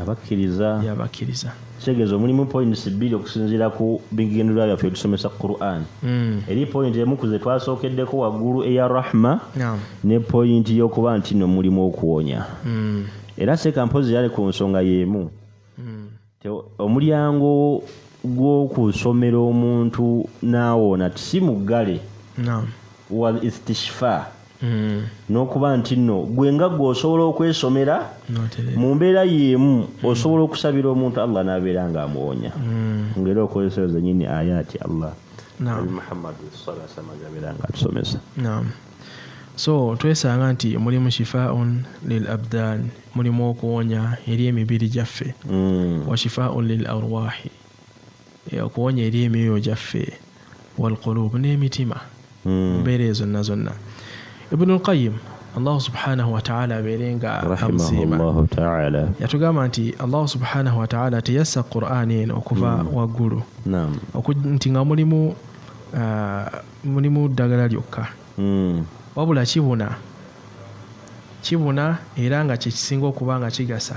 abakkiriza yabakkiriza kitegeeza omulimu points bbiri okusinziira ku bigendererwa byaffe tusomesa quran mm. eri point emu ku ze twasookeddeko waggulu eya rahma no. ne point y'okuba nti no mulimu okuwonya mm. era seeka mpozi yali ku nsonga y'emu mm. omulyango gw'okusomera omuntu n'awona tisi muggale no. wal istishfa Mm. n'okuba nti nno gwe nga gwe osobola okwesomera mu mbeera yeemu mm. osobola okusabira omuntu allah n'abeera nga amuwonya mm. ngaera okozesero zenyini ayaati allah muhammadi salasamazabeera nga atusomesa so twesanga nti mulimu shifaun lil abdan mulimu okuwonya eri emibiri gyaffe wa shifaun lil arwahi okuwonya eri emyoyo gyaffe walqulubu n'emitima hmm. mumbeera eyo zonna zonna ibnu lqayim allahu subhanahu wataala abeere nga amusiima yatugamba nti allahu subhanahu wataala teyassa qur'an eno okuva hmm. waggulu nti nga mulimu uh, mulimu ddagala lyokka hmm. wabula kibuna kibuna era nga kyekisinga okuba nga kigasa